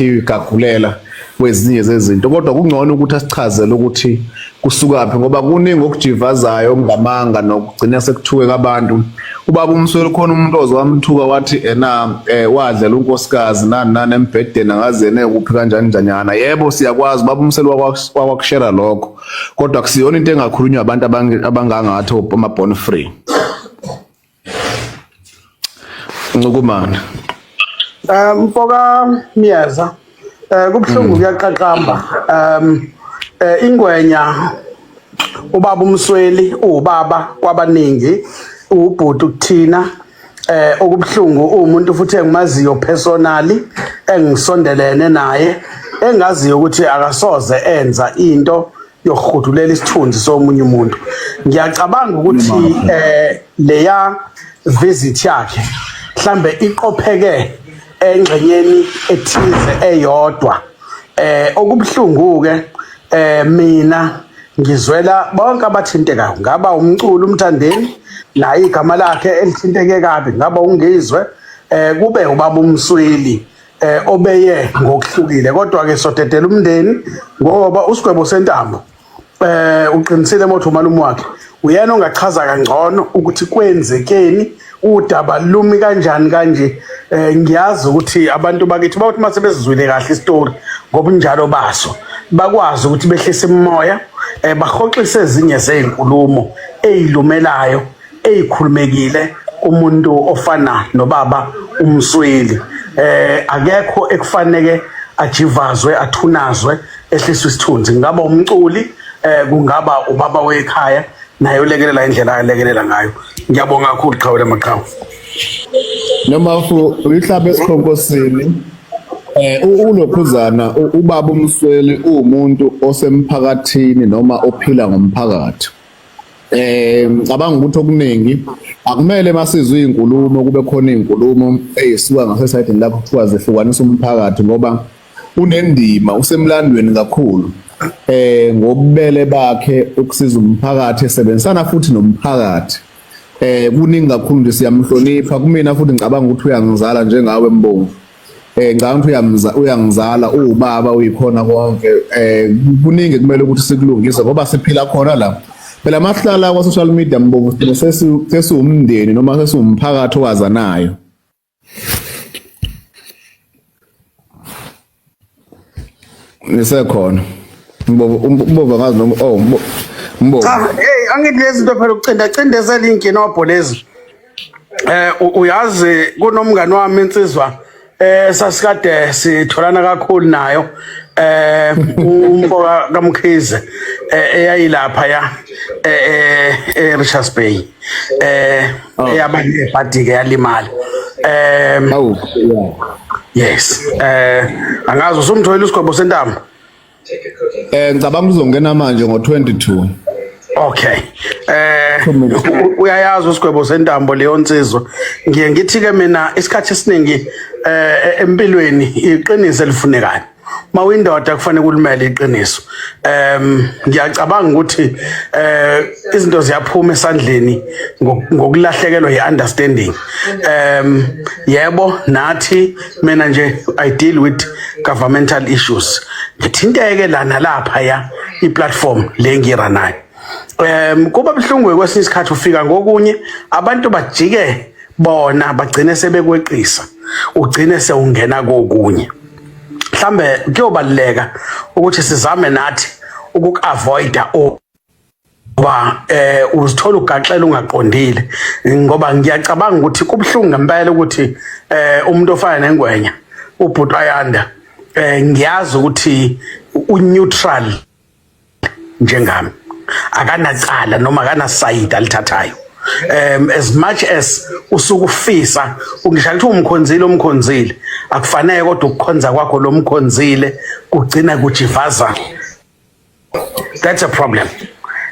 kuthiwa igagulela kwezinye zezinto kodwa kungcono ukuthi asichazele ukuthi kusukaphi ngoba kuningi okujivazayo okungamanga nokugcina sekuthuke abantu ubaba umsweli khona umuntu oze wamthuka wathi ena eh, wadlela unkosikazi nani nani embhedeni angazene kuphi kanjani njanyana yebo siyakwazi ubaba umsweli wakwakushera lokho kodwa kusiyona into engakhulunywa abantu abangangathi ama-born free Ncukumana. Um mfoka Miyeza eh kubuhlungu hmm. kuyaqaqamba um eh, ingwenya ubaba umsweli uwubaba kwabaningi uwubhuti kuthina eh okubuhlungu umuntu futhi engimaziyo personally engisondelene naye engaziyo ukuthi akasoze enza into yokuhudulela isithunzi somunye umuntu ngiyacabanga ukuthi eh leya visit yakhe mhlambe iqopheke engxenyeni ethize eyodwa eh okubuhlungu ke eh mina ngizwela bonke abathintekayo ngaba umculo umthandeni naye igama lakhe elithinteke kabi ngaba ungizwe eh kube ubaba umsweli eh obeye ngokuhlukile kodwa ke sodedela umndeni ngoba usigwebo sentambo eh uqinisile motho umalume wakhe uyena ongachaza kangcono ukuthi kwenzekeni udaba lumi kanjani kanje eh ngiyazi ukuthi abantu bakithi bawuthi mase bezizwile kahle istory ngobunjalo baso bakwazi ukuthi behlise imoya eh bahoxise ezinye zezinkulumo ezilumelayo eyikhulumekile umuntu ofana nobaba umsweli eh akekho ekufaneke ajivazwe athunazwe ehliswa isithunzi ngaba umculi eh kungaba ubaba wekhaya naye ulekelela indlela ayelekelela ngayo ngiyabonga kakhulu qhawe lamaqhawe noma fu uyihlabe esikhonkosini eh ulokhuzana ubaba umsweli umuntu osemphakathini noma ophila ngomphakathi eh ngicabanga ukuthi okuningi akumele masizwe izinkulumo kube khona izinkulumo ezisuka ngasesayidini lapho kuthiwa zehlukanisa umphakathi ngoba unendima usemlandweni kakhulu eh ngobubele bakhe ukusiza umphakathi esebenzisana futhi nomphakathi eh kuningi kakhulu nje siyamhlonipha kumina futhi ngicabanga ukuthi uyangizala njengawe mbongo Eh ngicabanga ukuthi uyamza uyangizala uwubaba uyikhona konke eh kuningi kumele ukuthi sikulungise ngoba siphila khona la. Phela mahlala kwa social media mbobo sine sesi sesiwumndeni noma sesiwumphakathi owazanayo. ngisekhona umbova ngazi noma oh mbova cha hey angithi lezi zinto phela ukucinda cindezela inkinobho lezi eh uyazi kunomngani wami insizwa eh sasikade sitholana kakhulu nayo eh umfoka kaMkhize eh, eyayilapha ya eh, eh, eh Richards Bay eh oh. eyabanye ebhadike yalimala um oh, yes eh angazi usumthoyile usigwebo sentamo eh ngicabanga uzongena manje ngo22 Okay. Eh uyayazi usigwebo sentambo leyo nsizwa. Ngiye ngithi ke mina isikhathi esiningi eh empilweni iqiniso elifunekayo. mawindoda kufanele kulimele iqiniso um ngiyacabanga ukuthi eh izinto ziyaphuma esandleni ngokulahlekelwa yi-understanding um yebo nathi mina nje i deal with governmental issues ngithinteke la nalapha ya i-platform le ngira nayo um kuba buhlungu kwesinye isikhathi ufika ngokunye abantu bajike bona bagcine sebekweqisa ugcine sewungena kokunye mhlambe kuyobaluleka ukuthi sizame nathi ukukavoida ba eh uzithola ugaxela ungaqondile ngoba ngiyacabanga ukuthi kubuhlungu ngempela ukuthi eh umuntu ofana nengwenya ubhuti ayanda eh ngiyazi ukuthi uneutral njengami akanacala noma akanasayidi alithathayo um as much as usuke ufisa ungisho ukuthi umkhonzile omkhonzile akufanele kodwa ukukhonza kwakho lo mkhonzile kugcina kujivaza that's a problem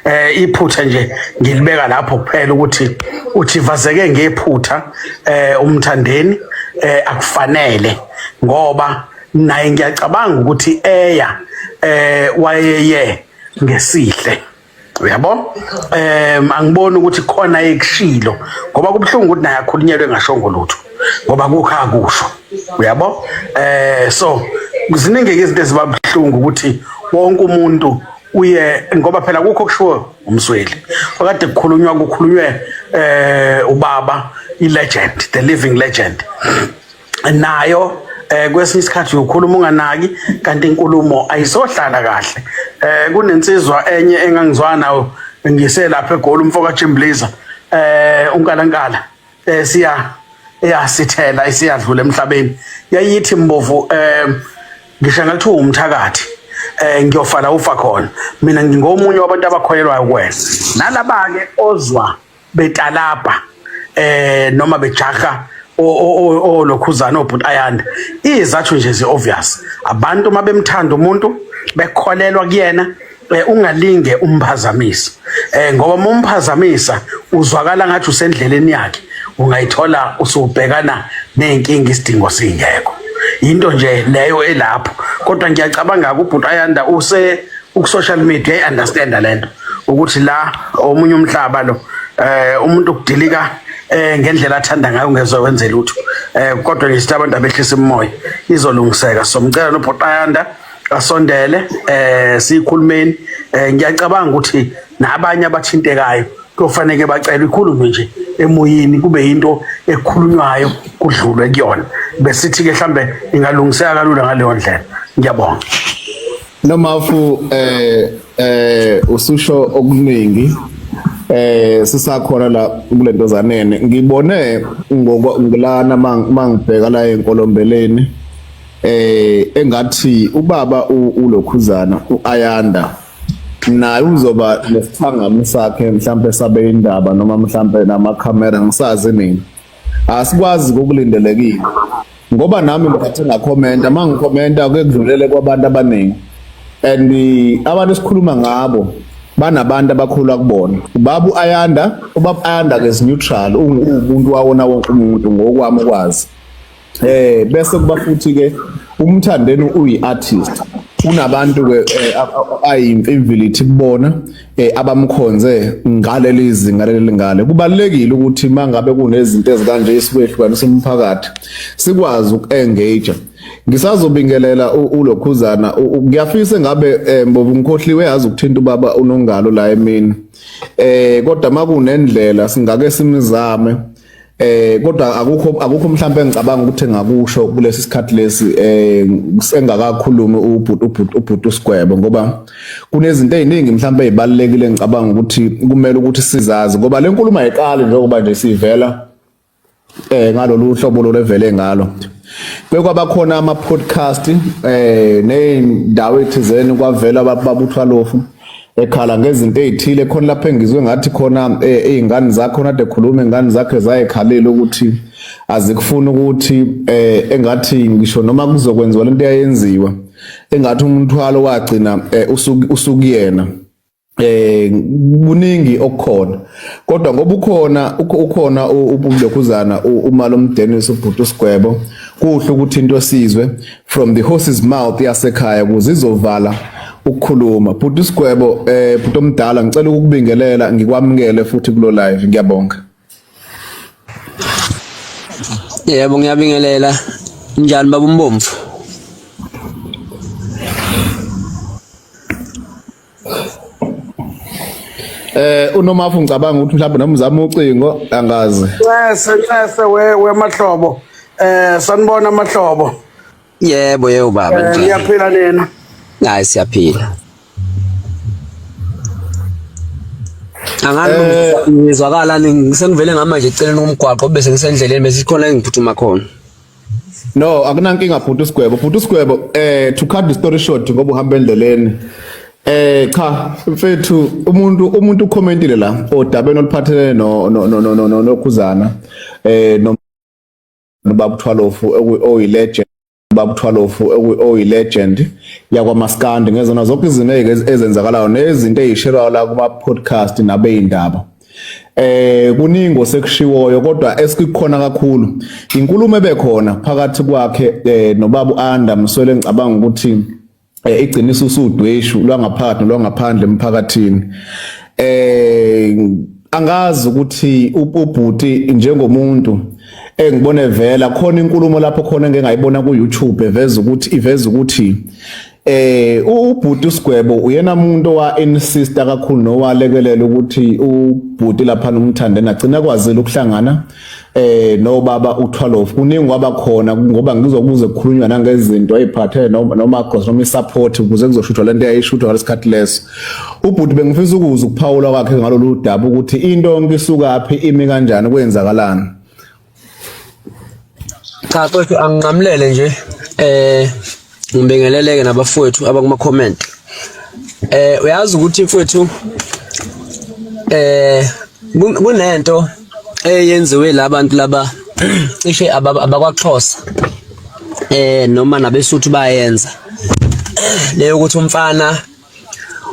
eh iphutha nje ngilibeka lapho kuphela ukuthi uthivazeke ngephutha eh umthandeni eh akufanele ngoba naye ngiyacabanga ukuthi eya eh wayeye ngesihle uyabo em angiboni ukuthi khona ekushilo ngoba kubuhlungu ukuthi naye akhulunyelwe ngashongo lutho ngoba kukha kusho uyabo eh so ziningi izinto ezibabuhlungu ukuthi wonke umuntu uye ngoba phela kukho kushiwo umsweli okade kukhulunywa kukhulunywe eh ubaba i legend the living legend nayo eh kwesinye isikhathi ukhuluma unganaki kanti inkulumo ayisohlala kahle eh kunensizwa enye engangizwana nayo ngiselapha egoli umfoka Chimbliza eh unkalankala eh siya eyasithela isiyadlula emhlabeni yayithi mbovu eh ngisho ngathi umthakathi eh ngiyofala ufa khona mina ngingomunye wabantu abakholelwayo kwena nalaba ke ozwa betalabha eh noma bejaha olokhuzana obhuti ayanda izathu nje zi obvious abantu uma bemthanda umuntu bekholelwa kuyena eh, ungalinge umphazamisa eh ngoba uma umphazamisa uzwakala ngathi usendleleni yakhe ungayithola usubhekana nezinkinga isidingo singekho into nje leyo elapho kodwa ngiyacabanga ukuthi ubhuti ayanda use uku social media i understand lento ukuthi la omunye umhlaba lo eh umuntu ukudilika eh ngendlela athanda ngayo ngezwe wenze lutho eh kodwa ngisithe abantu abehlisa imoya izolungiseka somcela nobhotayanda asondele eh sikhulumeni eh ngiyacabanga ukuthi nabanye abathintekayo kufanele bacela ikhulume nje emoyeni kube into ekhulunywayo kudlulwe kuyona besithi ke mhlambe ingalungiseka kalula ngaleyo ndlela ngiyabonga Nomafu eh eh ususho okuningi eh sisakhona la kulento zanene ngibone ngokulana mangibheka la enkolombeleni eh engathi ubaba ulokhuzana uayanda naye uzoba nesithangami sakhe mhlambe sabe indaba noma mhlambe nama camera ngisazi mina asikwazi kokulindelekile ngoba nami ngithathe ngakhomenta uma ngikhomenta kuke kudlulele kwabantu abaningi and abantu esikhuluma ngabo banabantu abakhula kubona ubaba uayanda ubaba ayanda ke is neutral ungumuntu wawona wonke umuntu ngokwami ukwazi eh bese kuba futhi ke umthandeni uyi artist unabantu ke eh, ayimfimvilithi kubona eh, abamkhonze ngaleli zinga leli ngale kubalekile ukuthi mangabe kunezinto ezikanje isikwehlukanisa umphakathi sikwazi ukuengage ngisazobingelela ulokhuzana kuyafisa ngabe eh, mbovu ngikhohliwe yazi ukuthinta ubaba unongalo la emini eh kodwa makunendlela singake simizame Eh kodwa akukho akukho mhlawumbe engicabanga ukuthi ngakusho kulesi sikhathi lesi eh engakakhulumi ubhuti ubhuti ubhuti usigwebo ngoba kunezinto eziningi mhlawumbe ezibalekile ngicabanga ukuthi kumele ukuthi sizazi ngoba le nkulumo ayiqali njengoba nje sivela eh ngalolu hlobo lolevele ngalo bekwaba khona ama podcast eh nezindawo ethizeni kwavela babuthwa lofu ekhala ngezinto ezithile khona lapho engizwe ngathi khona izingane eh, zakho nade khuluma ingane zakhe zayekhalela ukuthi azikufuni ukuthi eh, engathi ngisho noma kuzokwenziwa lento yayenziwa engathi umthwalo wagcina eh, usukuyena eh kuningi okukhona kodwa ngoba ukhona ukhona ubublekhuzana umalo umdenisi ubhuti usigwebo kuhle ukuthi into esizwe from the horse's mouth yasekhaya ukuze izovala ukukhuluma bhuti isigwebo eh bhuti omdala ngicela ukubingelela ngikwamukele futhi kulo live ngiyabonga yebo ngiyabingelela njani baba umbomvu Eh unomafu ngicabanga ukuthi mhlawumbe noma uzama ucingo angazi. Nxese nxese we we mahlobo. Eh sanibona mahlobo. Yebo yebo baba eh, nje. Ngiyaphila nina. Hayi siyaphila. Angani eh, ngizwakala ngisengivele ngamanje eceleni komgwaqo bese ngisendleleni bese khona engiphutuma khona. No, akunankinga bhuti usigwebo. Bhuti usigwebo eh to cut the story short ngoba uhamba endleleni. Eh cha mfethu umuntu umuntu ucommentile la odabeni oluphathelene no no no no no nokhuzana eh no babu Thwalofu oyi legend babu Thwalofu oyi legend yakwa Maskandi ngezona zonke izinto ezenzakalayo nezinto ezishelwa la kuma podcast nabe indaba. eh kuningi osekushiwoyo kodwa esikukhona kakhulu inkulumo ebekhona phakathi kwakhe eh, nobabu Anda mswele ngicabanga ukuthi eh, igciniso usudweshu lwangaphakathi lwangaphandle emphakathini eh angazi ukuthi ubhuti njengomuntu engibone vela khona inkulumo lapho khona engengayibona ku YouTube eveza ukuthi iveza ukuthi Eh ubhuti uSgwebo uyena umuntu owa insista kakhulu nowalekelela ukuthi ubhuti lapha nomthande nagcina kwazile ukuhlangana eh no baba uThwalof kuningi wabakhona ngoba ngizokuze kukhulunywa nangezinto eziphathe noma noma cross noma support ukuze kuzoshuthwa lento eyayishuthwa ngalesikhathi leso ubhuti bengifisa ukuza ukuphawula kwakhe ngalolu daba ukuthi into yonke isukaphi imi kanjani kwenzakalani Cha mfowethu anginqamulele nje eh ngibingeleleke nabafowethu abakuma comment. Eh uyazi ukuthi mfowethu eh kunento eyenziwe labantu laba cishe abakwaXhosa eh noma nabesuthu bayenza leyo ukuthi umfana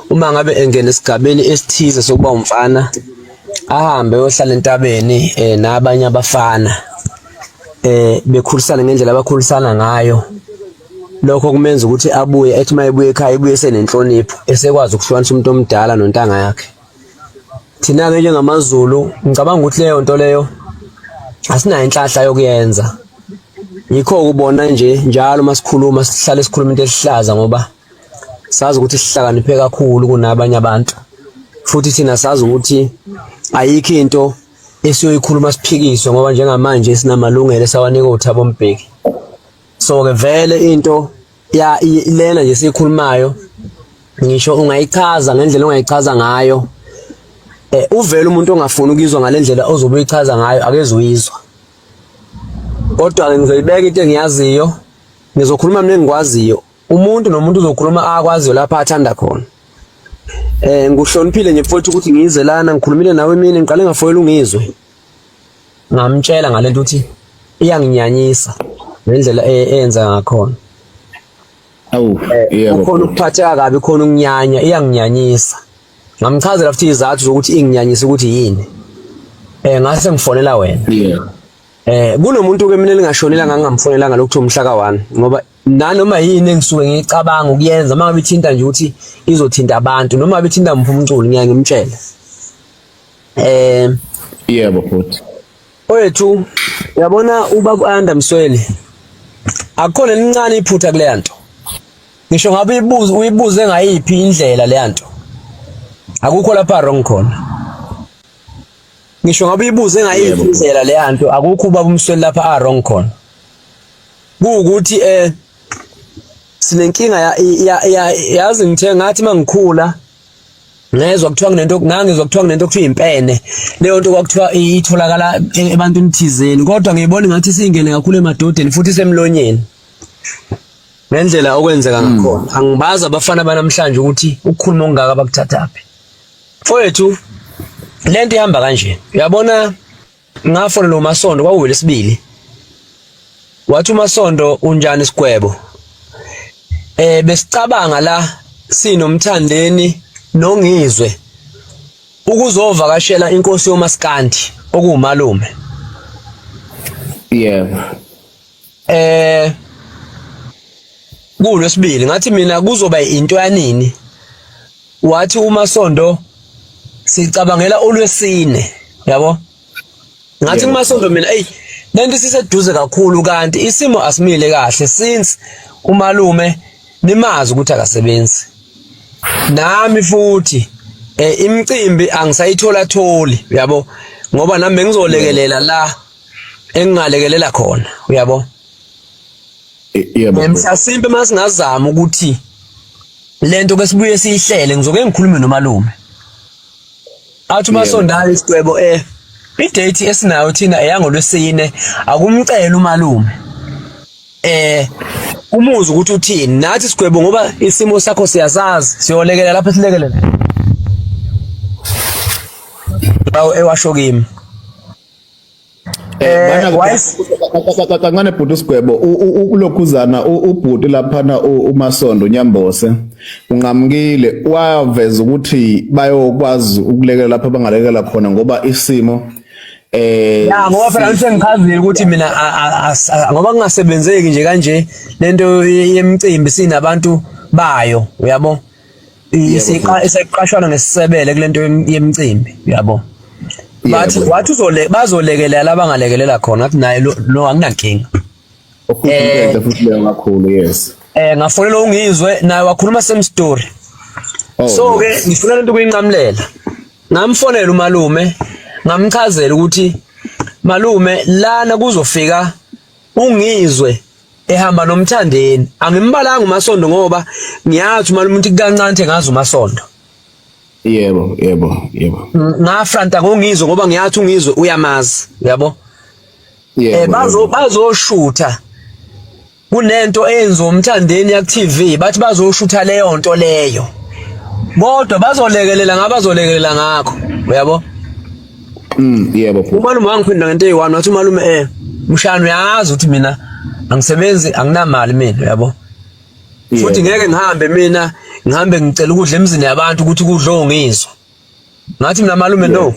uma ngabe engena esigabeni esithize sokuba umfana ahambe yohlala entabeni eh nabanye abafana eh bekhulisana ngendlela abakhulisana ngayo lokho kumenza ukuthi abuye ethi uma ebuye ekhaya ebuye senenhlonipho esekwazi ukuhlukanisa umuntu omdala nontanga yakhe thina-ke njengamazulu ngicabanga ukuthi leyo nto leyo asinayo inhlahla yokuyenza yikho ukubona nje njalo uma sikhuluma sihlale sikhuluma into esihlaza ngoba sazi ukuthi sihlakaniphe kakhulu kunabanye abantu futhi thina sazi ukuthi ayikho into esiyoyikhuluma siphikiswe ngoba njengamanje sinamalungelo esawanika uThabo Mbeki so ke vele into ya lena nje sikhulumayo ngisho ungayichaza ngendlela ongayichaza ngayo eh uvela umuntu ongafuni ukuyizwa ngalendlela ozobe uyichaza ngayo akezuyizwa kodwa ke ngizoyibeka into engiyaziyo ngizokhuluma mina engikwaziyo umuntu nomuntu uzokhuluma akwaziyo lapha athanda khona eh nguhloniphile nje mfowethu ukuthi ngize lana ngikhulumile nawe mina ngiqale ngafoyela ungizwe ngamtshela ngalento ukuthi iyanginyanyisa ngendlela e, eyenza ngakhona awu eh, yebo khona ukuphatheka kabi khona ukunyanya iyanginyanyisa ngamchazela futhi izathu zokuthi inginyanyisa ukuthi yini eh ngase ngifonela wena yeah eh kunomuntu ke mina lingashonela ngangamfonelanga lokuthiwa umhla ka1 ngoba nanoma yini engisuke ngicabanga ukuyenza uma ngabe ithinta nje ukuthi izothinta abantu noma ngabe ithinta muphi umculo ngiya ngimtshela eh yebo futhi oyethu yabona ubaba uAnda Msweli akukhona lincane iphutha kule nto ngisho ngabe uyibuze uyibuze ngayiphi indlela le nto akukho lapha wrong khona ngisho ngabe uyibuze ngayiphi indlela le nto akukho ubaba umsweli lapha a wrong khona kuwukuthi eh sinenkinga yazi ngithe ngathi mangikhula ngezwa kuthiwa kunento ngangizwa kuthiwa kunento kuthiwa impene leyo nto kwakuthiwa itholakala ebantwini thizeni kodwa ngiyibona ngathi singene kakhulu emadodeni futhi semlonyeni ngendlela okwenzeka hmm. ngakhona angibazi abafana banamhlanje ukuthi ukukhuluma ongaka bakuthathaphi mfowethu lento ihamba kanje uyabona ngafonela uMasondo kwakuwelesibili wathi uMasondo unjani isigwebo eh besicabanga la sinomthandeni nongizwe ukuzovakashela inkosi yomaskandi okuwumalume yebo eh kulwesibili ngathi mina kuzoba into yanini wathi uma sonto sicabangela olwesine yabo ngathi uma sonto mina ey lento siseduze kakhulu kanti isimo asimile kahle since umalume nimazi ukuthi akasebenzi nami futhi eh, imicimbi angisayithola tholi yabo ngoba nami bengizolekelela la engingalekelela khona uyabo yebo mhlasimpe masingazama ukuthi lento ke sibuye siyihlele ngizoke ngikhulume nomalume athi umasondala isigwebo eh idate esinayo thina eyangolwesine akumcela umalume eh umuzi ukuthi uthini nathi sigwebo ngoba isimo sakho siyasazi siyolekelela lapho silekelela bawo ewasho kimi Eh, kancane bhuti usigwebo ulokhuzana ubhuti laphana umasondo nyambose unqamukile waveza ukuthi bayokwazi ukulekelela lapho bangalekela khona ngoba isimo eh ya ngoba phela ngithe ngichazile ukuthi mina ngoba kungasebenzeki nje kanje lento yemicimbi sinabantu bayo uyabo isiqashwana ngesisebele kulento yemcimbi uyabo bathi wathi uzole bazolekelela abangalekelela khona ngathi naye lo anginankinga eh futhi leyo kakhulu yes eh ngafonela ungizwe naye wakhuluma same story oh, so ke ngifuna lento kuyinqamulela ngamfonela umalume ngamchazela ukuthi malume lana kuzofika ungizwe ehamba nomthandeni angimbalanga umasondo ngoba ngiyazi uma umuntu kancane ngazi umasondo yebo yebo yebo ngafranta ngongizwe ngoba ngiyathi ungizwe uyamazi yabo yebo eh, bazo bazoshutha kunento eyenziwa umthandeni yak TV bathi bazoshutha leyo nto leyo kodwa bazolekelela ngabazolekelela ngakho uyabo Mm, yebo bhuti. Umalume wangiphinda ngento eyi-one wathi umalume eh mshana uyazi ukuthi mina angisebenzi anginamali mina yabo. Futhi ngeke ngihambe mina ngihambe ngicela ukudla emzini yabantu ukuthi kudlo ngizwa. Ngathi mina malume no.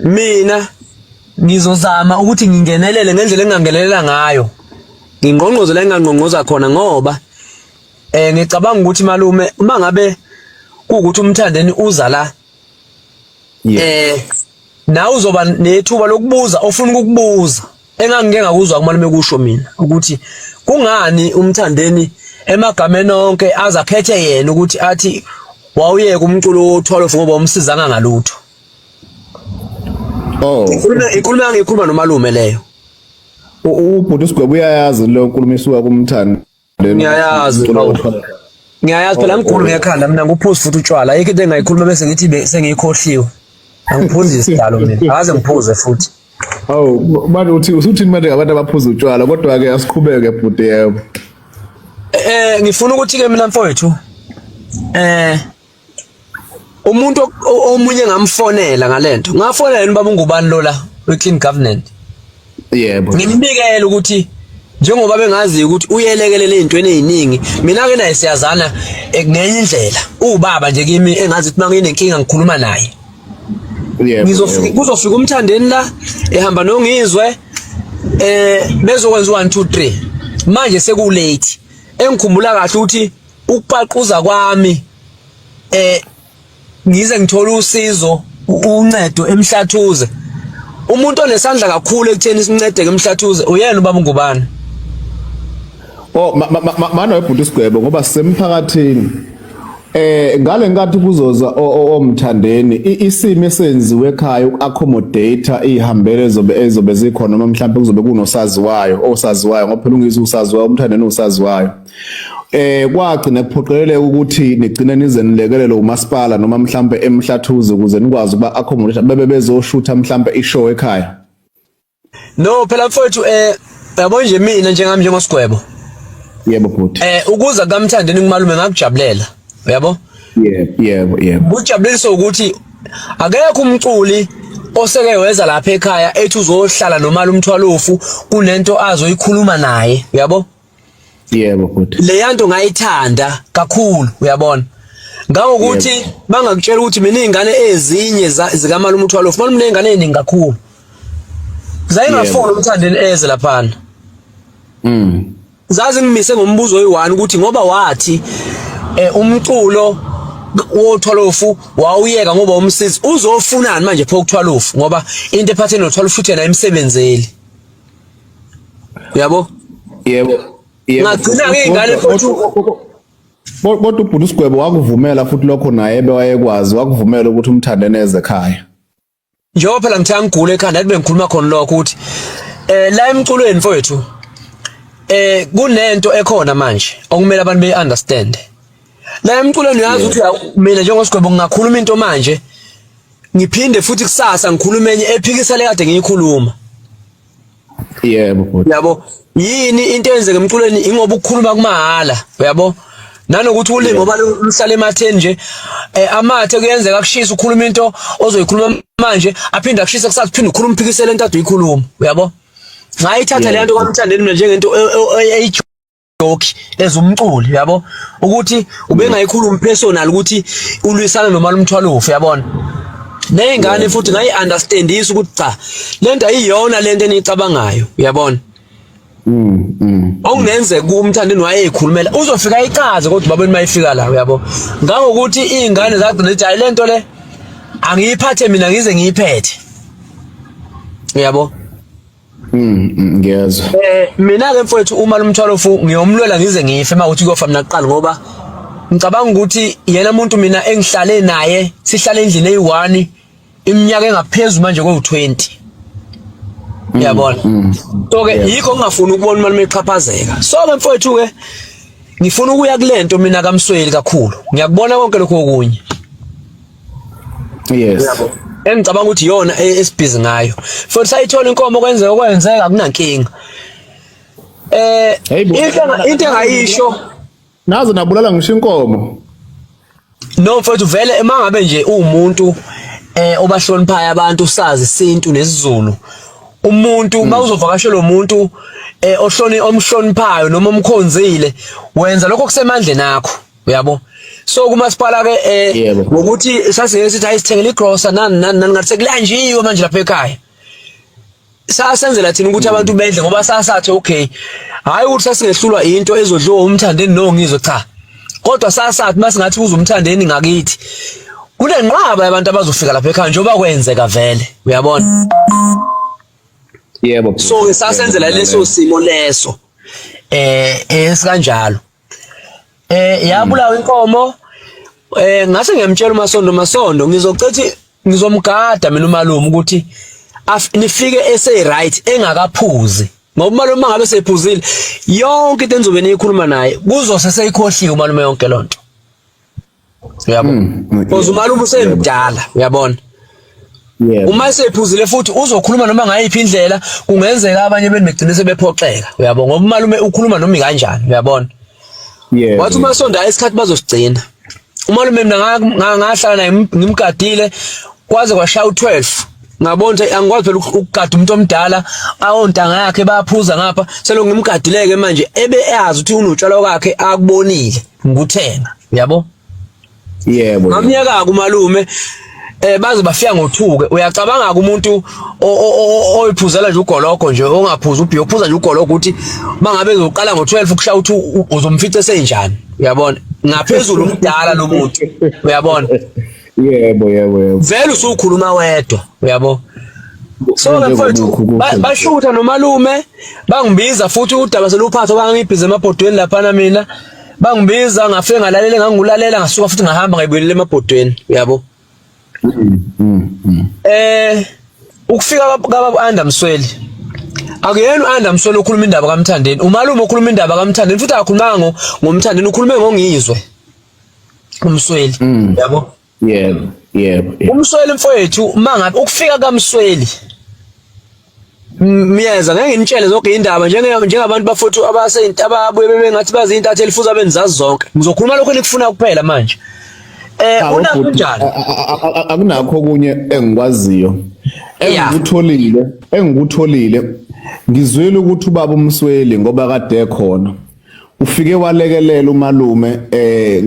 Mina ngizozama ukuthi ngingenelele ngendlela engangenelela ngayo. Ngingqongqoze la engangqongqoza khona ngoba eh ngicabanga ukuthi malume uma ngabe kuwukuthi umthandeni uza la eh nawe uzoba nethuba lokubuza ofuna ukukubuza engangike ngakuzwa kumalume kusho mina ukuthi kungani umthandeni emagameni onke azakhethe yena ukuthi athi wawuyeka umculo wo-12 ngoba umsizanga ngalutho oh ikhuluma ikhuluma ngikhuluma nomalume leyo ubhuti usigwebo uyayazi lo nkuluma isuka kumthanda ngiyayazi ngiyayazi phela ngigulu ngekhanda mina nguphuzi futhi utshwala ayikho into engayikhuluma bese ngithi sengiyikhohliwe angiphuzi isidalo mina akaze ngiphuze futhi awu manje uthi usuthini manje ngabantu abaphuza utshwala kodwa-ke asiqhubeke bhuti yebo um ngifuna ukuthi-ke mina mfowethu um umuntu omunye ngamfonela ngalento ngafonela yini baba ungubani lola we clean government yebo ngimbikele ukuthi njengoba bengazi ukuthi uyelekelela ezintweni eziningi mina ke naye siyazana eh, ngenye indlela ubaba nje kimi engazi ukuthi manginenkinga ngikhuluma naye ngizofika kuzofika umthandeni la ehamba nongizwe eh bezokwenza 1 2 3 manje seku late engikhumbula kahle ukuthi ukupaquza kwami eh ngize ngithola usizo uncedo emhlathuze umuntu onesandla kakhulu ekutheni sincedeke emhlathuze uyena ubaba ngubani oh mana webhunti isigwebo ngoba sisemphakathini eh ngale nkathi kuzoza omthandeni isimo esenziwe ekhaya uaccommodate ihambele zobe ezobe zikhona noma mhlawumbe kuzobe kunosaziwayo osaziwayo ngoba phela ungizwe usaziwayo umthandeni usaziwayo eh kwagcina kuphoqeleleka ukuthi nigcine nize nilekelele umasipala noma mhlambe emhlathuze ukuze nikwazi ukuba accommodate bebe bezoshutha mhlambe ishow ekhaya no phela mfowethu eh yabo nje mina njengami njengosigwebo yebo bhuti eh ukuza kamthande nikumalume ngakujabulela uyabo yebo yebo yebo kujabulisa ukuthi akekho umculi oseke weza lapha ekhaya ethi uzohlala nomali umthwalofu kunento azoyikhuluma naye uyabo yebo bhuti leya nto ngayithanda kakhulu uyabona ngangokuthi yep. bangakutshela ukuthi mina izingane ezinye zikamalume uthwalo ufumana mina izingane eziningi kakhulu zayingafuni yep. umthandeni eze laphana mm zazi ngimise ngombuzo oyi-1 ukuthi ngoba wathi eh umculo wothwalofu wawuyeka ngoba umsizi uzofunani manje phokuthwalofu ngoba into ephatheni nothwalofu futhi yena emsebenzeli uyabo yebo ngagcina ngey'ngane futhi kodwa ubhuti usigwebo wakuvumela futhi lokho naye ebewayekwazi wakuvumela ukuthi umthande neze ekhaya njengoba phela ngithe angigule ekhanda athi bengikhuluma khona lokho ukuthi eh la emculweni mfowethu eh kunento ekhona manje okumele abantu be understand la emculweni uyazi ukuthi mina njengosigwebo ngingakhuluma into manje ngiphinde futhi kusasa ngikhulume enye ephikisele kade ngiyikhuluma yebo bhuti yabo yini into eyenzeka emculweni ingoba ukukhuluma kumahhala uyabo nanokuthi ulimi ngoba luhlala ematheni nje eh, amathe kuyenzeka kushisa ukhuluma into ozoyikhuluma manje aphinde akushise kusathi phinde ukhuluma uphikisele into ade uyikhuluma uyabo ngayithatha le nto kwamthandeni mina njengento e, e, e, doki as umculi yabo ukuthi ubengayikhulumi personal ukuthi ulwisana noma lumthwalo ufe yabona nezingane futhi ngayi understandisa ukuthi cha lento ayiyona lento enicabangayo uyabona Mm. mm. Okungenze kumthandeni wayeyikhulumela uzofika icaze kodwa babeni mayifika la uyabo. Ngangokuthi izingane zagcina ithi ayilento le angiyiphathe mina ngize ngiyiphethe. Uyabo? Mm, mm, ngiyezwa eh mina ke mfowethu uma lomthwalo fu ngiyomlwela ngize ngife uma uthi kuyofa mina kuqala ngoba ngicabanga ukuthi yena umuntu mina engihlale naye sihlale endlini eyi-1 iminyaka engaphezulu manje kwewu-20 mm, yabona so ke yikho ngingafuni ukubona umalume exhaphazeka so ke mfowethu ke ngifuna ukuya kule nto mina kamsweli kakhulu ngiyakubona konke lokho okunye yes engicabanga ukuthi yona e-, esibhizi ngayo futhi sayithola inkomo kwenzeka okwenzeka kunankinga eh into engayisho nazo nabulala ngisho inkomo no mfowethu vele emangabe nje uwumuntu eh obahloniphayo abantu sazi isintu nesizulu umuntu hmm. mawuzovakashela umuntu eh ohloni omhloniphayo noma omkhonzile wenza lokho kusemandleni akho uyabo so kumasipala ke eh ngokuthi sasike sithi ayisithengele igrocer nani nani nani ngathi sekulanjiwe manje lapha ekhaya sasenzela thina ukuthi abantu bedle ngoba sasathi okay hayi ukuthi sasingehlulwa into ezodliwa umthandeni no ngizwe cha kodwa sasathi masingathi kuze umthandeni ngakithi kunenqaba yabantu abazofika lapha ekhaya njengoba kwenzeka vele uyabona yebo so sasenzela leso simo leso eh esikanjalo eh yabulawa inkomo eh ngase ngiyamtshela umasondo masondo ngizocethi ngizomgada mina umalume ukuthi nifike ese right engakaphuzi ngoba umalume ngabe sephuzile yonke into enzobe niyikhuluma naye kuzose seyikhohliwe umalume yonke lonto uyabo mm, mm, because umalume usemdala uyabona uma esephuzile futhi uzokhuluma noma ngayiphi indlela kungenzeka abanye benu begcine sebephoxeka uyabo ngoba umalume ukhuluma noma kanjani uyabona wathi uma sonda isikhathi bazosigcina umalume mina ngahlala naye ngimgadile kwaze kwashaya u12 ngabona ukuthi angikwazi phela ukugada umuntu omdala awontanga yakhe bayaphuza ngapha selokhu ngimgadileke manje ebe eyazi ukuthi unotshwala kwakhe akubonile ngikuthenga yabo yebo ngamyeka kumalume eh baze bafika ngothuke uyacabanga umuntu oyiphuzela nje ugoloko nje ongaphuza ubhiyo uphuza nje ugoloko ukuthi mangabe ezoqala ngo12 ukushaya uthi uzomfica senjani uyabona ngaphezulu umdala lo muntu uyabona yebo yebo yebo vele usukhuluma wedwa uyabo so ke mfowethu bashutha nomalume bangibiza futhi udaba seluphatha bangibhize emabhodweni lapha na mina bangibiza ngafike ngalalela ngangulalela ngasuka futhi ngahamba ngayibuyelele emabhodweni uyabo mm, mm, mm. eh ukufika kababa Anda Msweli akuyena uAnda Msweli okhuluma indaba kaMthandeni umalume okhuluma indaba kaMthandeni futhi akakhulumanga ngomthandeni ukhulume ngongizwe umsweli mm. yabo yebo yebo umsweli mfowethu uma ngabe ukufika kamsweli Myeza ngeke ngitshele zonke indaba njenge njengabantu bafuthu abaseyinto ababuye bebengathi bazi intatheli futhi abenzazi zonke ngizokhuluma lokho enikufuna kuphela manje eh ah, una kunjani akunakho okunye engikwaziyo engikutholile engikutholile ngizwile ukuthi ubaba umsweli ngoba kade ekhona ufike walekelela umalume eh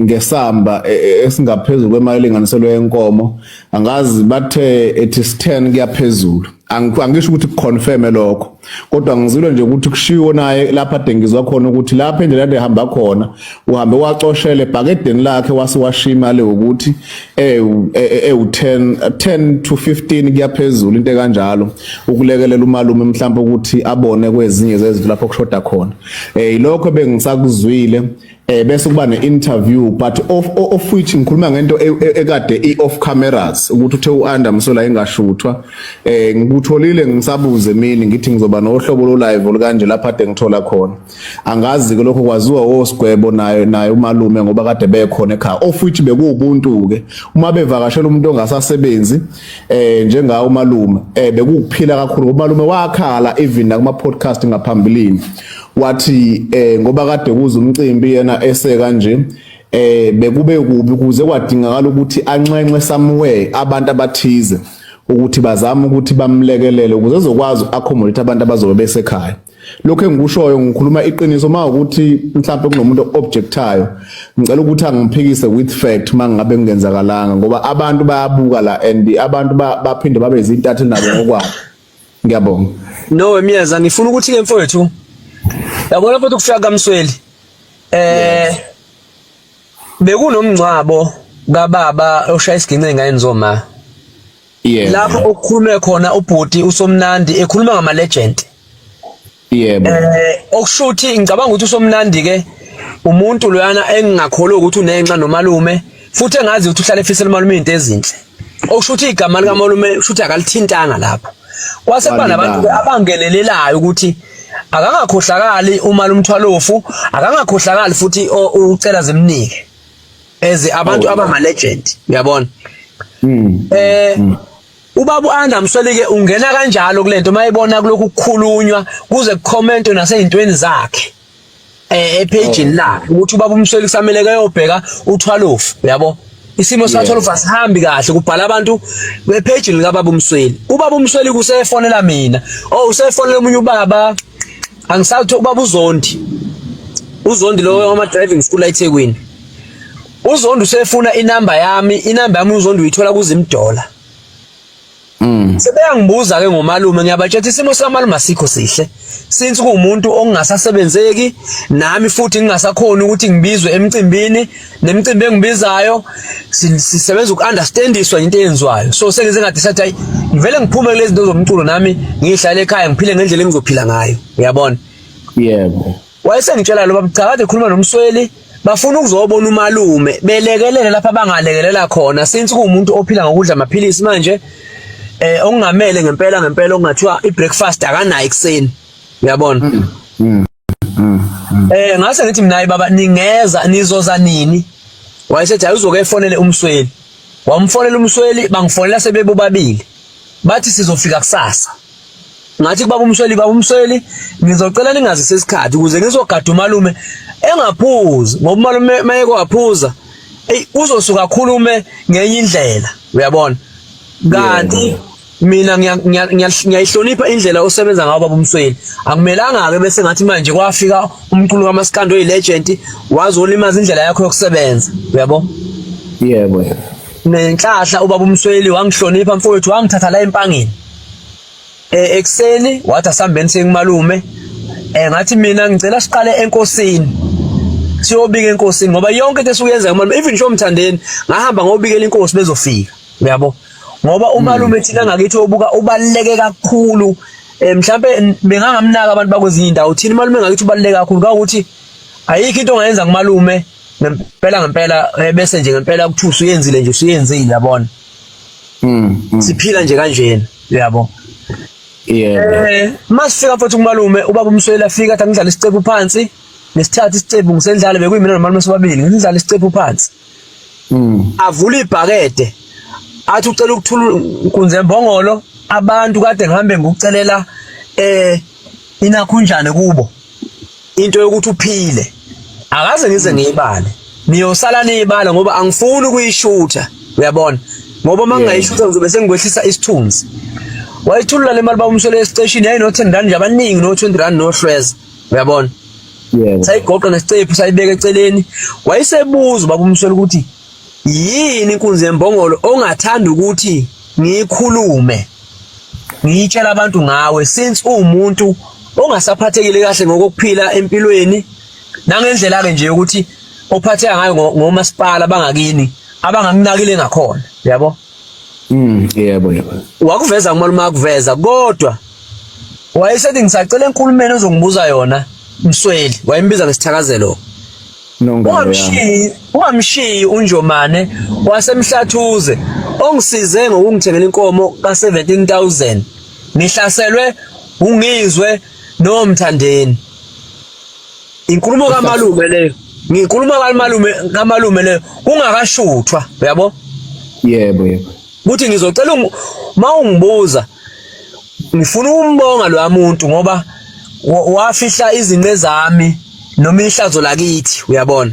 ngesamba e, e, esingaphezulu kwemali elinganiselwe yenkomo angazi bathe ethi 10 kuyaphezulu angisho ukuthi kuconfirme lokho kodwa ngizilo nje ukuthi kushiwo naye lapha dengizwa khona ukuthi lapha endlela ehamba khona uhambe wacoshela ebhakedeni lakhe wase washiya imali ukuthi ewu-10 e, e, 10 to 15 kuyaphezulu into ekanjalo ukulekelela umalume mhlawumbe ukuthi abone kwezinye zezinto lapho kushoda khona um yilokho bengisakuzwile eh bese kuba ne-interview but of, of which ngikhuluma ngento e, e, ekade i-off cameras ukuthi uthe u-anda msola engashuthwa eh ngikutholile ngisabuze mina ngithi ngizoba nohlobo lo-live olukanje lapha ade ngithola khona angazi ke lokho kwaziwa osigwebo naye naye umalume ngoba kade bekhona ekhaya of which bekuwubuntu ke uma bevakashela umuntu ongasasebenzi eh njenga umalume eh bekukuphila kakhulu umalume wakhala even nakuma podcast ngaphambilini wathi eh ngoba kade kuza umcimbi yena ese kanje eh bekube kubi kuze kwadingakala ukuthi anxenxe somewhere abantu abathize ukuthi bazama ukuthi bamlekelele ukuze ezokwazi accommodate abantu abazobe besekhaya lokho engikushoyo ngikhuluma iqiniso uma ukuthi mhlawumbe kunomuntu objectayo ngicela ukuthi angiphikise with fact mangabe kungenzakalanga ngoba abantu bayabuka la and abantu baphinde babe izintatheli nabo ngokwabo ngiyabonga no emyeza ngifuna ukuthi ke mfowethu yabona futhi ukufika kamsweli eh bekunomngcwabo kababa oshaya isigince ngayini zoma yebo lapho okukhulume khona ubhuti usomnandi ekhuluma ngama legend yebo eh okushuthi ngicabanga ukuthi usomnandi ke umuntu loyana engingakholwa ukuthi unenxa nomalume futhi engazi ukuthi uhlale efisela umalume into ezinhle okushuthi igama lika malume ushuthi akalithintanga lapho kwase kuba nabantu abangenelelayo ukuthi akangakhohlakali uma lumthwalofu akangakhohlakali futhi ucela zimnike as abantu oh, abama legend uyabona mm. eh mm. ubaba uAnda Msolike ungena kanjalo kulento mayibona kulokhu kukhulunywa kuze kucommentwe nasezintweni zakhe eh epage oh. lakhe ukuthi ubaba uMsolike kusamele kayobheka uthwalofu uyabo isimo sakhe lofa sihambi kahle kubhala abantu bepage lika baba uMsweli ubaba uMsweli kusefonela mina oh usefonela umunye ubaba angisawuthi ubaba uzondi uzondi lowo wama driving school eThekwini uzondi usefuna inamba yami inamba yami uzondi uyithola kuzimdola Mm. Sebeyangibuza ke ngomalume ngiyabatshela isimo samalume asikho sihle. Since kuumuntu ongasasebenzeki nami futhi ngingasakhona ukuthi ngibizwe emcimbini nemicimbi engibizayo sisebenza uku-understandiswa into eyenziwayo so sengize ngathi sathi hayi ngivele ngiphume kulezi zinto zomculo nami ngihlale ekhaya ngiphile ngendlela engizophila ngayo uyabona yebo wayesengitshela lo babucha kade khuluma nomsweli bafuna ukuzobona umalume belekelele lapha bangalekelela khona since kuwumuntu ophila ngokudla amaphilisi manje eh okungamele ngempela ngempela okungathiwa i breakfast akanayo ekseni uyabona mm. mm. eh ngase ngithi mina baba ningeza nizoza nini wayesethi ayizoke efonele umsweli wamfonela umsweli bangifonela sebebobabili bathi sizofika kusasa ngathi kubaba umsweli baba umsweli ngizocela ningazi sesikhathi ukuze ngizogada umalume engaphuzi ngoba umalume mayeke waphuza ey uzosuka khulume ngenye indlela uyabona kanti mina ngiyayihlonipha indlela osebenza ngayo baba umsweni akumelanga-ke bese ngathi manje kwafika umculo kamasikandi oyi-legend wazolimaza indlela yakho yokusebenza uyabo yebo nenhlahla ubaba umsweli wangihlonipha mfowethu wangithatha la empangeni eh ekseni wathi asambeni sengmalume eh ngathi mina ngicela siqale enkosini siyobika enkosini ngoba yonke into esukuyenza ngamalume even nje omthandeni ngahamba ngobikela inkosi bezofika uyabo ngoba umalume thina ngakithi obuka ubaluleke kakhulu eh, mhlambe bengangamnaka abantu bakwezinye indawo thina umalume ngakithi ubaluleke kakhulu kawukuthi ayikho into ongayenza kumalume ngempela ngempela eh, bese nje ngempela kuthusa uyenzile nje usuyenzile yabona mm, mm. siphila nje kanjena uyabo yeah eh masifika futhi kumalume ubaba umswela fika athi ngidlala isicebu phansi ngesithathu isicebu ngisendlala bekuyimina nomalume sobabili ngidlala isicebu phansi mm. avula ibhakede athi ucela ukuthula kunze mbongolo abantu kade ngihambe ngikucelela eh inakhunjane kubo into yokuthi uphile akaze ngize ngiyibale niyosala niyibala ngoba angifuni ukuyishutha uyabona ngoba uma ngingayishutha ngizobe sengikwehlisa isithunzi wayithulula le mali bawumswele esiteshini yayino-ten rand nje abaningi no-twenty rand nohlweza uyabona yebo sayigoqa nesicephu sayibeka eceleni wayesebuza ubaba umswela ukuthi yini inkunzi yembongolo ongathanda ukuthi ngiyikhulume ngiyitshela abantu ngawe since uwumuntu ongasaphathekile kahle ngokuphila empilweni nangendlela ke nje ukuthi ophatheka ngayo ngomasipala bangakini abangakunakile ngakhona yabo Mm, yebo yebo. Wakuveza kumalume akuveza kodwa wayesethi ngisacela enkulumeni ozongibuza yona Msweli wayembiza ngesithakazelo. Ungamshiyi ungamshiyi uNjomane wasemhlathuze ongisize ngokungithengela inkomo ka 17000 ngihlaselwe ungizwe nomthandeni Inkulumo kamalume leyo. Ngikhuluma kamalume kamalume leyo kungakashuthwa uyabo? Yebo yebo. Ukuthi ngizocela uma ungibuza ngifuna umbonga lo muntu ngoba wafihla izinqe zami noma ihlazo lakithi uyabona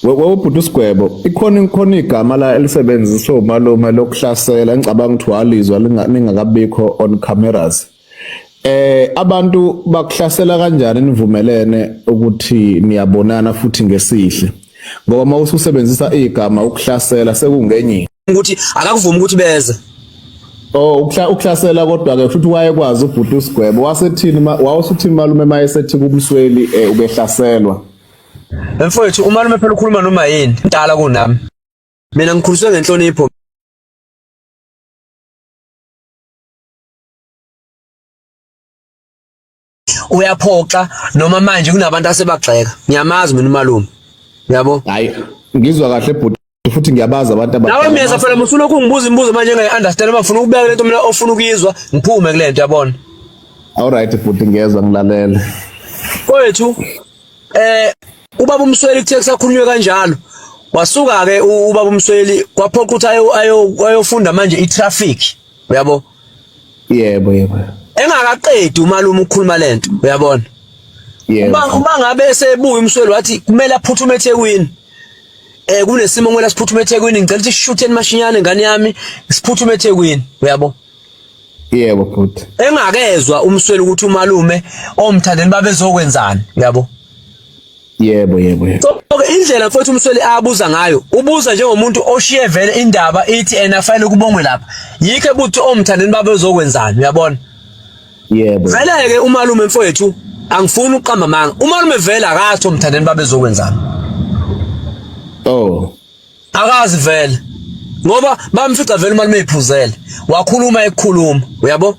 wewubhuti usigwebo ikhona ikhona igama la elisebenziswa umalume lokuhlasela engicabanga ukuthi walizwa lingakabikho on cameras Eh abantu bakuhlasela kanjani nivumelene ukuthi niyabonana futhi ngesihle ngoba uma ususebenzisa igama ukuhlasela sekungenye ukuthi akakuvumi ukuthi beze Oh ukla uklasela kodwa ke futhi wayekwazi ubhuti usigwebo wasethini wawusuthini malume mayesethi kubusweli eh, ubehlaselwa Mfowethu umalume phela ukhuluma noma yini mdala kunami Mina ngikhuliswe ngenhlonipho uyaphoxa noma manje kunabantu asebagxeka ngiyamazi mina umalume yabo hayi ngizwa kahle bhuti futhi ngiyabaza abantu abadala nawe miyeza phela mufuna ukungibuza imibuzo manje ngayi understand uma ufuna ukubeka lento mina ofuna ukuyizwa ngiphume kule nto yabona all right bhuti ngiyezwa ngilalele kwethu eh ubaba umsweli kuthe kusakhulunywe kanjalo wasuka ke ubaba umsweli kwaphoqa ukuthi ayofunda manje i-traffic uyabo yebo yebo engakaqedi umalume ukukhuluma lento uyabona uma uma ngabe esebuya umsweli wathi kumele aphuthume eThekwini eh kunesimo ngela siphuthume eThekwini ngicela ukuthi sishutheni mashinyane ngane yami siphuthume eThekwini uyabo yebo bhuti engakezwa umsweli ukuthi umalume omthandeni babezokwenzani uyabo yebo yebo yebo so okay indlela mfowethu umsweli abuza ngayo ubuza njengomuntu oshiye vele indaba ithi ena fanele kubongwe lapha yikho ebuthi omthandeni baba uzokwenzani uyabona yebo vele ke umalume mfowethu angifuni uqamba manga umalume vele akatho omthandeni baba ezokwenzani oh akazi vele ngoba bamfica vele umalume ephuzele wakhuluma ekukhuluma uyabo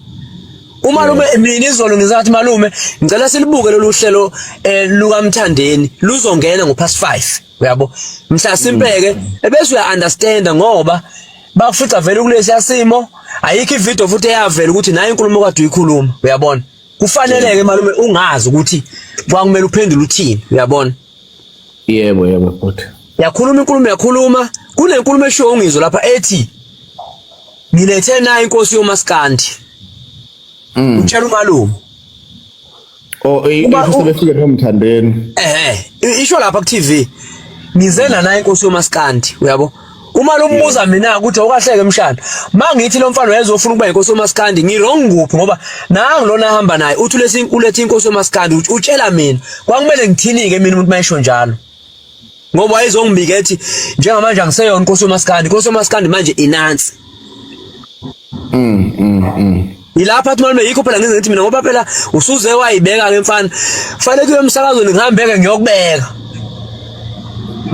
umalume mina izolo ngizathi malume ngicela silibuke lolu hlelo eh, lukamthandeni luzongena ngo past 5 uyabo mhla simpeke mm. ebese uya understand ngoba bakufica vele kulesi yasimo ayikho ivideo futhi eyavela ukuthi nayo inkulumo kade uyikhuluma uyabona kufaneleke malume ungazi ukuthi kwakumele uphendule uthini uyabona Yebo yebo bhuti. Yakhuluma inkulumo yakhuluma kunenkulumo eshiwo ungizwe lapha ethi ngilethe nayo inkosi yomaskandi. Mm. Utshela umalume. Oh, ifuse befike nomthandeni. Eh, isho lapha ku TV. Ngize la nayo inkosi yomaskandi, uyabo? uma lombuza mina ukuthi awukahleke mshana mangithi lo mfana wayezofuna ukuba inkosi yomaskandi ngirong kuphi ngoba nangu lona ahamba naye uthi lesi ulethe inkosi yomaskandi utshela mina kwakumele ngithinike mina umuntu mayisho njalo ngoba wayezongibika ethi njengamanje angiseyona inkosi yomaskandi inkosi yomaskandi manje inansi mm mm, mm. yilapha athi malume yikho phela ngenze ngithi mina ngoba phela usuze wayibeka ke mfana fanele kuyo emsakazweni ngihambeke ngiyokubeka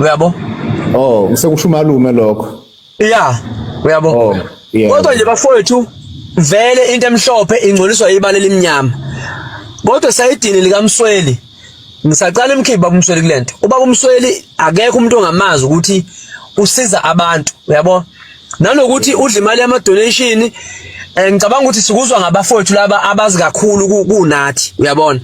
uyabo oh ngisekusho umalume lokho yeah uyabo oh, kodwa nje bafowethu vele into emhlophe ingcoliswa ibala elimnyama kodwa sayidini likamsweli ngisaqala imkhibi baba umsweli kulento ubaba umsweli akekho umuntu ongamazi ukuthi usiza abantu uyabo nanokuthi udla imali yama donation eh, ngicabanga ukuthi sikuzwa ngabafowethu laba abazi kakhulu kunathi uyabona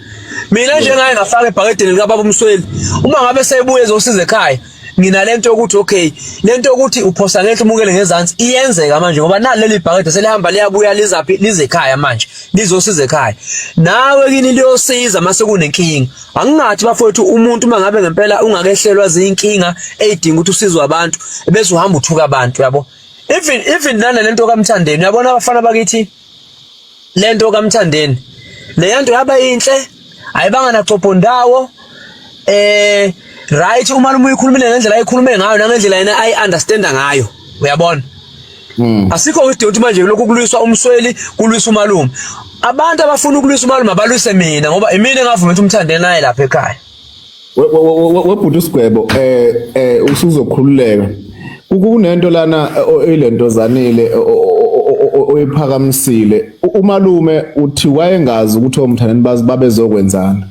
mina njengaye ngafaka ebhakedeni lika baba umsweli uma ngabe sebuye ezosiza ekhaya nginalento yokuthi okay lento yokuthi uphosa ngehla umukele ngezansi iyenzeka manje ngoba nalo leli bhakede selihamba liyabuya lizaphi lize ekhaya manje lizosiza ekhaya nawe kini liyosiza mase kunenkinga angingathi bafowethu umuntu uma ngabe ngempela ungakehlelwa zinkinga eyidinga ukuthi usizwe abantu bese uhamba uthuka abantu yabo even even nana lento kamthandeni uyabona abafana bakithi lento kaMthandeni leyanto yaba inhle ayibanga naxopo ndawo eh right uma noma uyikhulumile ngendlela ayikhulume ngayo nangendlela yena ayi understand ngayo uyabona hmm. asikho ukuthi manje lokhu kulwiswa umsweli kulwisa umalume abantu abafuna ukulwisa umalume abalwise mina ngoba imina engavuma ukuthi umthandeni naye lapha ekhaya webhuti usigwebo eh eh usuzokhululeka kunento lana ilento zanile oyiphakamisile umalume uthi wayengazi ukuthi omthandeni bazi babezokwenzana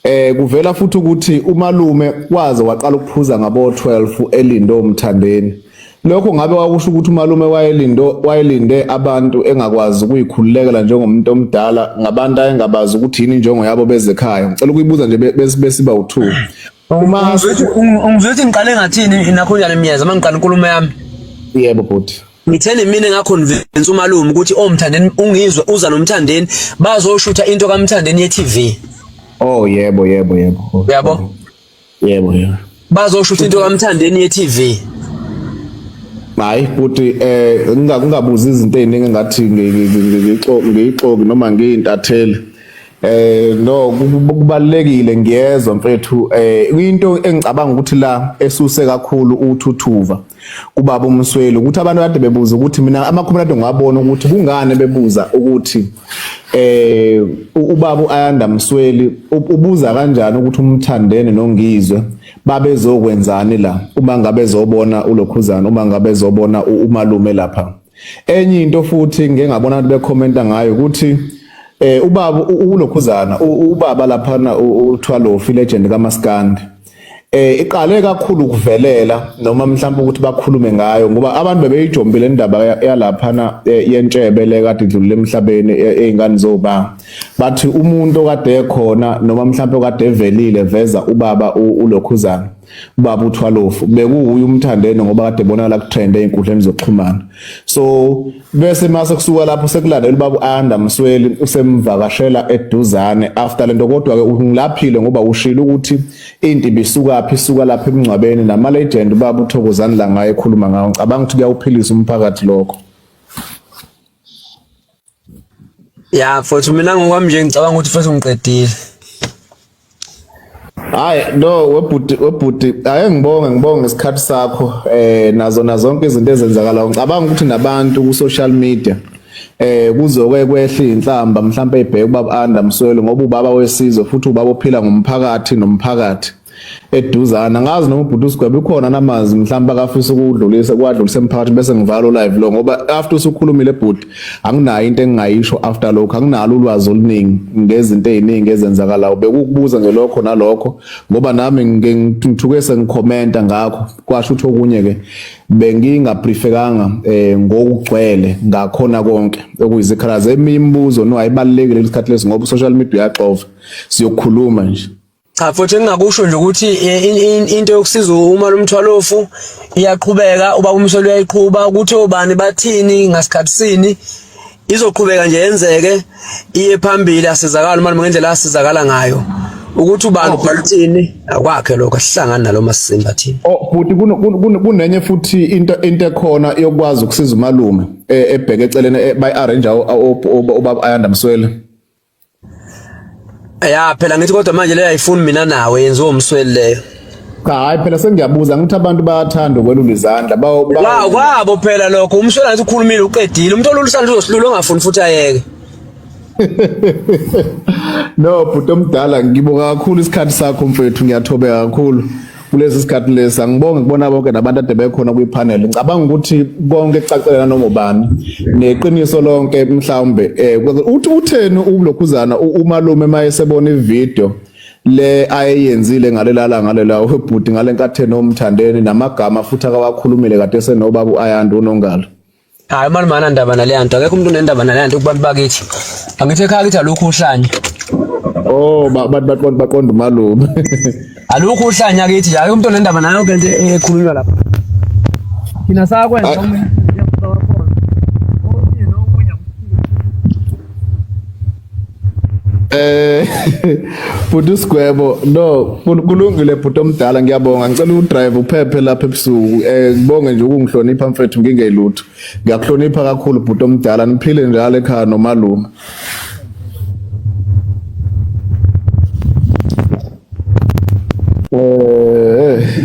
eh kuvela futhi ukuthi umalume waze waqala ukuphuza ngabo 12 elindo umthandeni Lokho ngabe kwakusho ukuthi umalume wayelindo wayelinde abantu engakwazi ukuyikhululekela njengomuntu omdala ngabantu ayengabazi ukuthi yini injongo yabo bezekhaya. Ngicela ukuyibuza nje besiba u2. Uma ungizothi ngiqale ngathini nakho njalo imiyeza mangiqala inkulumo yami. Yebo bhuti. ngitheni mina ngaconvince umalume ukuthi omthandeni oh, ungizwe uza nomthandeni bazoshutha into kamthandeni ye-TV oh yebo yebo yebo uyabo yebo yebo bazosho ukuthi into kamthandeni ye TV hayi futhi eh ngingakubuza izinto eziningi ngathi ngiyixoki ngiyixoki noma ngiyintatheli eh no kubalekile ngiyezwa mfethu eh into engicabanga ukuthi la esuse kakhulu uthuthuva kubaba uMsweli ukuthi abantu kade bebuza ukuthi mina amakhomelade ngwabona ukuthi kungani bebuza ukuthi eh ubaba uAyanda Msweli ubuza kanjani ukuthi umthandene nongizwe babezokwenzani la uma ngabe zobona ulokhuzana uma ngabe zobona umalume lapha enye into futhi ngengabona abantu bekhomenta ngayo ukuthi eh ubaba ulokhuzana ubaba lapha na uThwalofi legend kaMaskandi eh iqale kakhulu ukuvelela noma mhlawumbe ukuthi bakhulume ngayo ngoba abantu bebeyijombile indaba yalapha na eh, yentshebe le kade idlulile emhlabeni eh, ezingane zoba bathi umuntu kade ekhona noma mhlawumbe kade evelile veza ubaba ulokhuzana ubaba uthwalofu bekuwuye umthandeni ngoba kade bonakala kutrend einkundleni zokuxhumana so bese mase kusuka lapho sekulandela ubaba uAnda Msweli usemvakashela eduzane after lento kodwa ke ungilaphile ngoba ushilo ukuthi into ibisuka phi isuka lapha emngcwabeni nama legend ubaba uthokozani la ngaye ekhuluma ngawo ngicabanga ukuthi kuyawuphilisa umphakathi lokho ya futhi mina ngokwami nje ngicabanga ukuthi futhi ngiqedile Hayi no webhuti webhuti ake ngibonge ngibonge isikhathi sakho eh nazo nazonke izinto ezenzakala ngicabanga ukuthi nabantu ku social media eh kuzoke kwehle inhlamba mhlawumbe ibheke ubaba Anda Mswelo ngoba ubaba wesizwe futhi ubaba ophila ngomphakathi nomphakathi eduzana ngazi noma ubhuti usigwebe ukhona namazi mhlawumbe akafisa ukudlulisa kwadlulisa emphakathi bese ngivala live lo ngoba after usukhulumile ebhuti anginayo into engingayisho after lokho anginalo ulwazi oluningi ngezinto eziningi ezenzakalayo bekukubuza nje lokho nalokho ngoba nami ngithuke sengikhomenta ngakho kwasho ukuthi okunye ke bengingabriefekanga eh ngokugcwele ngakhona konke okuyizikhala zemibuzo no ayibalekile lesikhathi lesi ngoba social media uyaxova siyokhuluma nje Cha futhi engingakusho nje ukuthi eh, into yokusiza uma lomthwalofu iyaqhubeka uba umsolo uyayiqhuba ukuthi obani bathini ngasikhathi sini izoqhubeka nje yenzeke iye phambili asizakala uma ngendlela asizakala ngayo ukuthi ubani uphakathini oh. akwakhe lokho asihlangani nalo masimba thina oh futhi kunenye futhi into into ekhona yokwazi ukusiza umalume eh, ebheke eceleni eh, bayi arrange obaba ayanda mswele Ya phela ngithi kodwa manje leyo ayifuni mina nawe yenziwa umsweli leyo. Cha hayi phela sengiyabuza ngithi abantu bayathanda ukwelula izandla. Ba Wa kwabo phela lokho umsweli ngathi ukhulumile uqedile umuntu olulisandla uzosilula ongafuni futhi ayeke. No bhuti omdala ngibonga kakhulu isikhathi sakho mfethu ngiyathobeka kakhulu. kulesi sikhathi lesi angibonge kubona bonke nabantu ade bekhona kwi-panel ngicabanga ukuthi konke kucacelela noma ubani neqiniso lonke mhlawumbe um uthi utheni ulokhuzana umalume uma esebona ividiyo le ayeyenzile ngalelala ngalela webhuti ngale nkatheni omthandeni namagama futhi akawakhulumile kade senobaba u-ayanda unongalo Hayi mani mana ndaba naleya nto akekho umuntu unendaba naleya nto kubantu bakithi angithi ekhaya kithi alukho uhlanya oh abantu baqonda baqonda umalume alukho uhlanya kithi hayi umuntu onendaba nayo ke nto ekhulunywa lapha thina sakwenza Eh bhuti usigwebo no kulungile bhuti omdala ngiyabonga ngicela udrive uphephe lapha ebusuku eh ngibonge nje ukungihlonipha mfethu ngingeyilutho ngiyakuhlonipha kakhulu bhuti omdala niphile njalo ekhaya nomalume eh